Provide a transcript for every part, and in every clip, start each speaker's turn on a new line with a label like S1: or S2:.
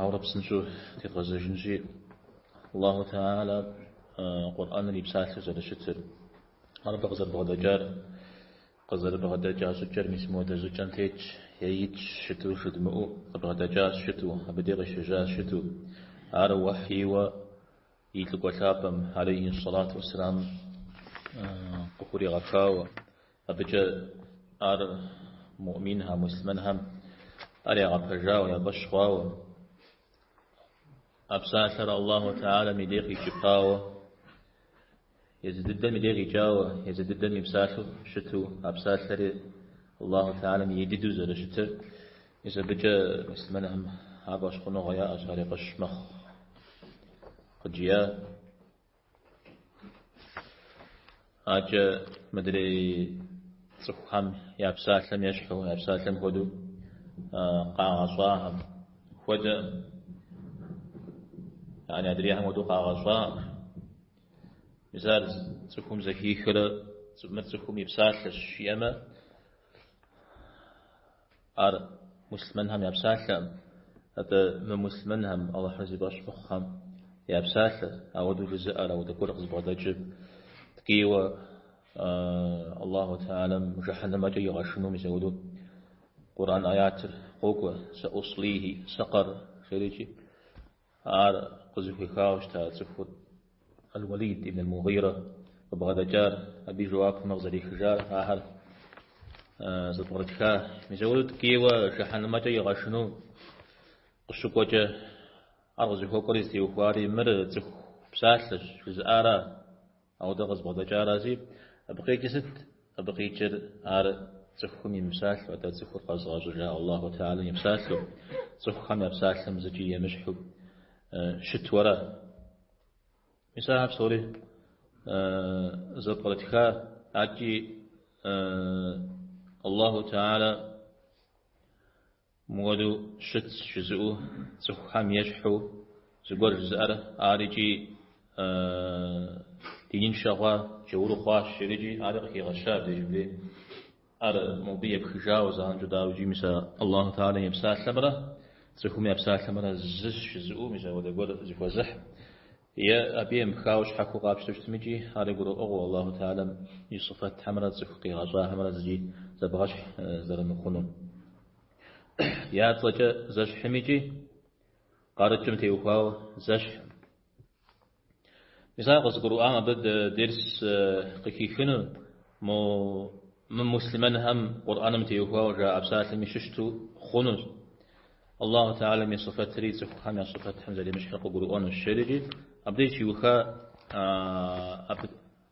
S1: Ауэрэ псынщӏэу тедгъэзэжынщи, Аллаху Теала Къурӏэныр и псалъэу зэрыщытыр, ар абы къызэрыбгъэдэкӏар, къызэрыбгъэдэкӏа щӏыкӏэр мис мыуэдэ щӏыкӏэм тетщ, е итщ щыту, жыдмыӏу къыбгъэдэкӏа щыту, абы дей къыщежьа щыту. Ар уэхьийуэ и лӏыкӏуэ лъапӏэм, алейхьи ссалату уэссалам, къыхуригъэхауэ, Абыкӏэ ар муӏминхэм, муслъымэнхэм ар ягъэпэжауэ, яфӏэщ хъуауэ, а псалъэр Аллаху Теалам и дей къикӏыпауэ, езы дыдэм и дей къикӏауэ, езы дыдэм и псалъэу щыту, а псалъэри Аллаху Теалам ей дыдэу зэрыщытыр, мис абыкӏэ муслъымэнхэм ар фӏэщхъуныгъэ яӏэщ, ар яфӏэщ мэхъу. Къыджия. Акӏэ мыдрей цӏыхухэм я псалъэм ещхьу, я псалъэм хуэдэу къагъэщӏахэм хуэдэкъым. Яни адрейхэм хуэдэу къагъэщӏаӏым. Мис ар цӏыхум зэхихрэ мыр цӏыхум и псалъэщ жиӏэмэ, Ар муслъымэнхэм я псалъэӏым, атӏэ мымуслъымэнхэм, Алыхьыр зи фӏэщ мыхъухэм я псалъэр, ауэдэу жызыӏэр, ауэдэ гуэр къызыбгъэдэкӏыр, ткӏийуэ Аллаху Теалам жыхьэнэмэкӏэ игъэшыну, мис ауэдэу Къурӏэн аятыр къокӏуэ, Саӏуслийхи сакъэр, жери икӏи. Ар къызыхуехауэ щыта цӏыхур, Аль-Уалид ибн аль-Мугъирэ, къыбгъэдэкӏар, абы и жэуапымрэ къызэрехыжар, ахэр зэпкърытха. Мис ауэдэу ткӏийуэ жыхьэнэмэкӏэ игъэшыну къыщыкӏуэкӏэ, ар къызыхуэкӏуэри зытеухуари, мыр цӏыху псалъэщ, жызыӏара, Ауэдэ къызыбгъэдэкӏарази, абы къикӏыр сыт? Абы къикӏыр ар цӏыхухэм и мыпсалъэу, атӏэ цӏыхур къэзыгъэщӏыжа Аллаху тээалэм и псалъэу, цӏыхухэм я псалъэм зыкӏи емыщхьу щытуэра. Мис ахэр псори зэпкърытха икӏи Аллаху тээалэ Мыуэду щытщ жызыӏу цӏыхухэм ещхьу зыгуэр жызыӏэр ар икӏи диныншэ хъуа, джаур хъуащ жери икӏи ари къыхигъэща дежбли ар мобы епхыжауэ занщӏэу дауэ икӏи мис а Аллаху Теалам и псалъэмрэ цӏыхум я псалъэмрэ зыщ жызыӏу мис апхуэдэ гуэр зыхуэзыхь Е абы емыпхауэ щхьэхуэу къапщтэу щытмикӏи ари гурыӏуэгъуэу Аллаху Тэхьэлэм и сыфэтхэмрэ цӏыху къигъэщӏахэмрэ зыкӏи зэбгъэщхь зэрымыхъунур. Я цӏэкӏэ зэщхьмикӏи къарыкӏым теухуауэ зэщхькъым. Мис ар къызыгурыӏуам абы дерс къыхихыну, мо мымуслъымэнхэм Къурӏэным теухуауэ жаӏэ псалъэми щыщту хъунущ. Аллаху Тэхьэлэм и сыфэтри цӏыхухэм я сыфэтхэм зэремыщхьыр къыгурыӏуэнущ жери, абдеж щиуха абы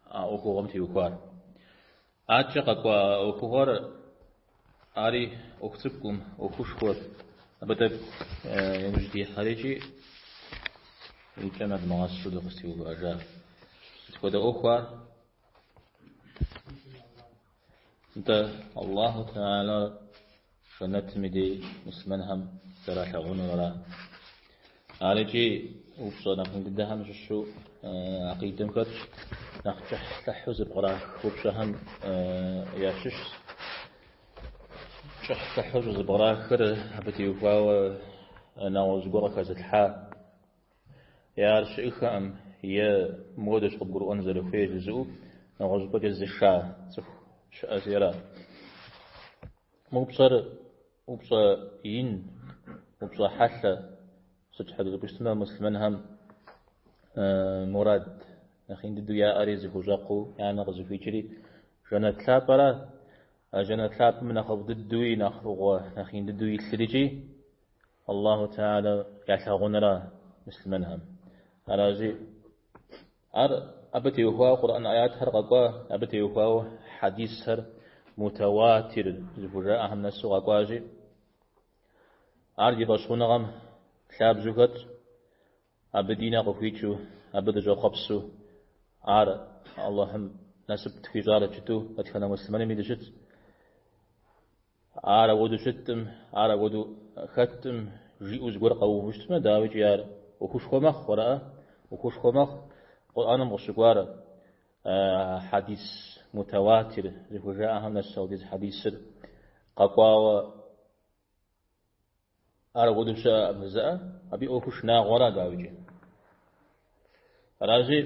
S1: а ӏуэхугъуэм теухуар. Адэкӏэ къэкӏуа ӏуэхугъуэр ари ӏуэху цӏыкӏукъым, ӏуэхушхуэра, абы тӏэкӏу иужь дихьэри икӏи и кӏэ нэдмыгъэсыщэу дыкъызэтеувыӏэжа. Сыт хуэдэ ӏуэху ар? Нтӏэ, Аллаху Тэхьэлэр жэнэтым и дей муслъымэнхэм зэралъагъунур ара, арикӏи упщӏэ нэхъ ин дыдэхэм щыщу акъидэм хэтщ, нэхъ кӏыхьлӏыхьу зэбгърах упщӏэхэм ящыщщ. Кӏыхьлӏыхьу щӏызэбгърахыр абы теухуауэ нэгъуэщӏ гуэр къыхэзылъхьа. Е ар щыӏыхэкъым, е мыуэдэщ къыбгурыӏуэн зэрыхуейр жызыӏэу нэгъуэщӏыпӏэкӏэ зыша цӏыху щыӏэщи ара. Мы упщӏэр упщӏэ ин, упщӏэ хьэлъэ. Сыт щхьэкӏэ жыпӏэу щытмэ, муслъымэнхэм мурад нэхъ ин дыдэу яӏэри, зыхущӏэкъуу я нэ къызыхуикӏри жэнэт лъапӏэра. А жэнэт лъапӏэм нэхъыфӏ дыдэуи, нэхъ фӏыгъуэ нэхъ ин дыдэу илъыр икӏи Аллаху Тэхьэлэр ялъагъунура муслъымэнхэм. Аращи, ар абы теухуауэ Къурӏэн аятхэр къэкӏуа, абы теухуауэ хьэдисхэр мутауатир зыхужаӏэхэм нэсу къэкӏуащи, ар ди фӏэщхъуныгъэм лъабжьу хэтщ, абы ди нэ къыхуикӏыу, абы дыщӏэхъуэпсу, ар Аллахьым насып тхуищӏарэт жытӏэу дэтхэнэ муслъымэными дыщытщ. Ар апхуэдэу щыткъым, ар апхуэдэу хэткъым, жиӏэу зыгуэр къэуву щытмэ, дауикӏи ар ӏуэхушхуэ мэхъу, аракъэ? ӏуэхушхуэ мэхъу Къурӏэным къыщыкӏуар хьэдис мутауатир зыхужаӏэхэм нэс апхуэдиз хьэдисыр къэкӏуауэ. Ар апхуэдэу щыӏэкъым жеӏэ, абы и ӏуэхур шынагъуэра, дауикӏи. Аращи,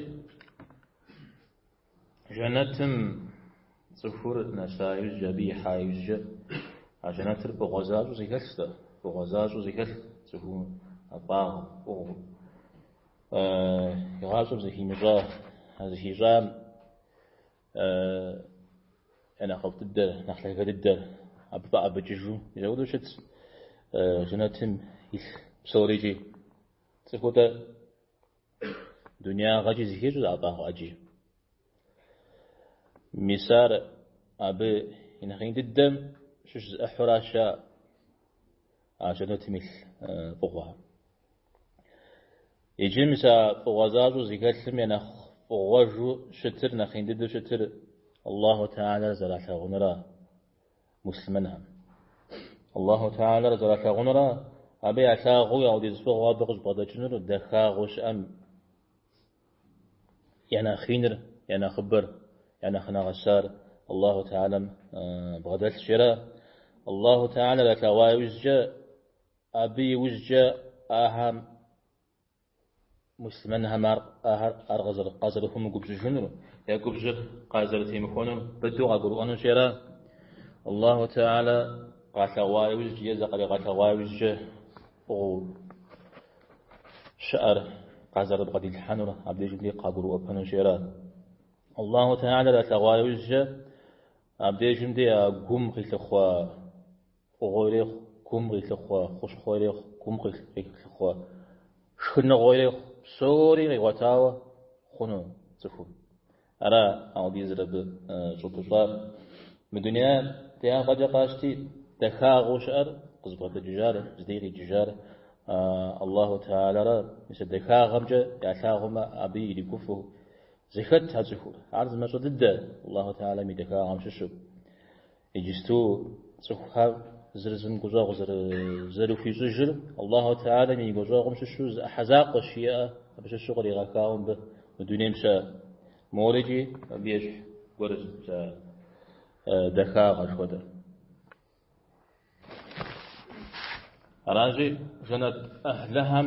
S1: жэнэтым цӏыхур нэса иужькӏэ, абы ихьа иужькӏэ, а жэнэтыр фӏыгъуэ защӏэу зэхэлъщ дэ, фӏыгъуэ защӏэу зэхэлъ цӏыху ӏэфӏагъыу, фӏыгъуэу игъащӏэм зыхимыщӏа, зыхищӏам Е нэхъыфӏ дыдэр, нэхъ лъагэ дыдэр абы фӏэӏэбыкӏыжу изэуду щытщ жэнэтым илъ псорикӏи. Цӏыхум дуниягъэкӏи зыхищӏэ ӏэфӏагъ ӏэджи. Мис ар абы и нэхъ ин дыдэм щыщ зы ӏыхьуращ ар. А жэнэтым илъ фӏыгъуэ. Иджы мис а фӏыгъуэ защӏэу зыхэлъым я нэхъ фӏыгъуэжу щытыр, нэхъ ин дыдэу щытыр Аллаху Теалэр зэралъагъунра муслъымэнхэм. Аллаху Теалэр зэралъагъунра абы ялъагъуу аудиз фӏыгъуэ абы къыщӏыбгъэдэкӏынур дахагъэу щыӏэм Я нэхъ иныр, я нэхъыбэр, я нэхъ нэгъэсар Аллаху Теалэм бгъэдэлъщи ара, Аллаху Теалэр ялъэгъуа иужькӏэ, абы иужькӏэ ахэм, муслъымэнхэм ар къазэрыхумыгубжьыжынур, я губжьыр къазэрытемыхуэнур быдэу къагурыӏуэнущи ара, Аллаху Теалэ къалъэгъуа иужькӏэ е зыкъаригъэлъэгъуа иужькӏэ фӏыгъуэу. щыӏэр къазэрыбгъэдилъхьэнур абдежым де къагурыӏуэпэнущи ара. Аллаху Теалэр ялъэгъуа иужькӏэ абдежым де а гум къилъыхъуэ фӏыгъуэ ирехъу, гум къилъыхъуэ хущхъуэ ирехъу, гум къилъыхъуэ шхыныгъуэ ирехъу, псори къигъуэтауэ хъуну цӏыхум. Ара аудизрэ абы щӏопыщӏар? Мы дунеям тяпэкӏэ къащти, дахагъэу щыӏэр, къызыбгъэдэкӏыжар, зыдей къикӏыжар Аллаху Теалэра, мис а дахагъэмкӏэ ялъагъумэ, абы иригуфӏэу зэхэт а цӏыхур. Ар зы мащӏэ дыдэ Аллаху Теалэм и дахагъэм щыщу. Иджысту цӏыхухэр зыр зым гущӏэгъу зэрыхуищӏыжыр Аллаху Теалэм и гущӏэгъум щыщу зы ӏыхьэ закъуэщ жиӏэ, абы щыщу къригъэхауэ мыбы мы дунейм щыӏэ морыкӏи абы ещхь гуэрщ дахагъэ жыхуэтӏэр. Аращи, жэнэт ӏыхьлыхэм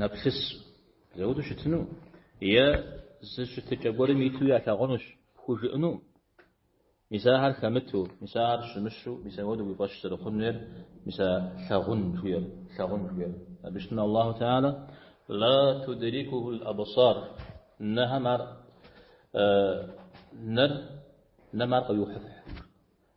S1: нэплъыс зэуду щытыну е зы щытыкӏэ гуэрым иту ялъагъунущ пхужыӏэну, мис ахэр хэмыту, мис ахэр щымыщу, мис апхуэдэу уи фӏэщ зэрыхъун хуейр, мис а лъагъун жуйр, лъагъун жуйр. Абы щытмэ Аллаху Теала Ла тудрикуху л-абсар, нэхэм ар, нэр, нэм ар къыуиухьыфхь.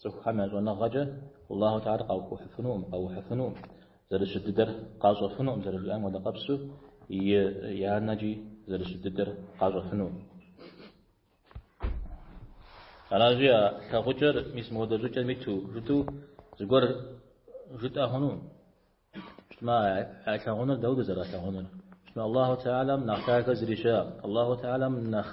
S1: Цӏыхухэм я щӏэныгъэкӏэ Аллаху Теалэр къаухьыфынукъым, къэухьыфынукъым, зэрыщыт дыдэр къащӏэфынукъым зэрыжиӏам хуэдэ къабзэу я нэкӏи зэрыщыт дыдэр къащӏэфынукъым. Аращи, а лъагъукӏэр мис мыхуэдэ щӏыкӏэм иту жытӏэу зыгуэр жытӏэ хъунукъым. Щытмэ, а лъагъуныр дауэ дызэралъагъунур? Щытмэ, Аллаху Теалэм нэхъ дахэ зыри щыӏэкъым, Аллаху Теалэм нэхъ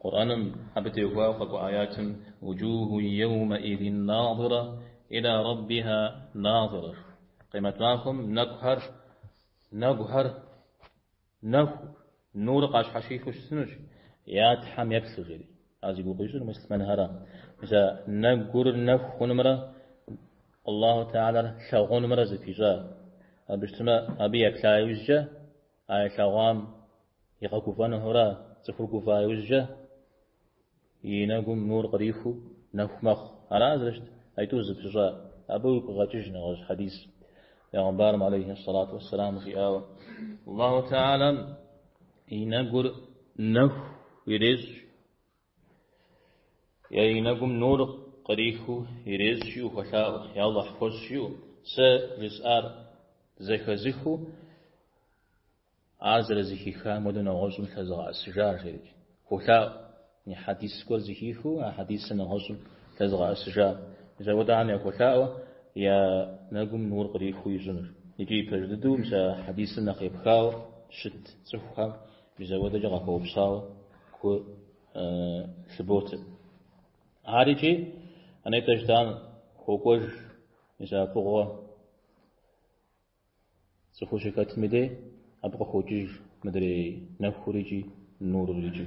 S1: Къурӏэным абы техуауэ къэкӏуа аятым Вуджуху йэумэидин надырэ иля рэббихьэ надырэ жыхуаӏэ. Къемэт махуэм нэкӏухэр, нэгухэр, нэху, нурыр къащхьэщихыу щысынущ я Тхьэм еплъу жери. Ар зи гугъу ищӏыр муслъымэнхэра мис а нэгур нэху хъунумрэ Аллаху Теалэр лъагъунумрэ зыпищӏар. Абы щытмэ, абы еплъа иужькӏэ, А илъэгъуам игъэгуфӏэну хъурэ цӏыхур гуфӏа иужькӏэ и нэгум нур кърихыу нэху мэхъу. Ара зэрыщыт аитӏур зыпищӏар. Абы уигу къегъэкӏыж нэгъуэщӏ хьэдис Пягъымбарым алейхи сэлату уэссэлам жиӏауэ, Аллаху Теалэм и нэгур нэху ирещӏ Я и нэгум нур кърихыу ирещӏ жиӏэу хуэлъаӏуэ, Я Алыхь, хуэщӏ жиӏэу. Сэ жысӏар зэхэзыхыу, ар зэрызэхихам хуэдэу нэгъуэщӏым лъэзыгъэӏэсыжар, жери хуолъаӏуэ. И хьэдис гуэр зэхихыу, а хьэдисыр нэгъуэщӏым лъэзыгъэӏэсыжар. Мис ахуэдэхэм яхуолъаӏуэ я нэгум нур кърихыу ищӏыныр. Икӏи пэж дыдэу мис а хьэдисым нэхъ епхауэ щыт цӏыхухэм Мис ахуэдэкӏэ къахуэупсауэ гу лъыботэ. Ар икӏи а нетӏэ жытӏам хуокӏуэж, мис а фӏыгъуэ цӏыхур щыхэтым дей абы къыхокӏыж мыдрей нэхур икӏи нурыр икӏи.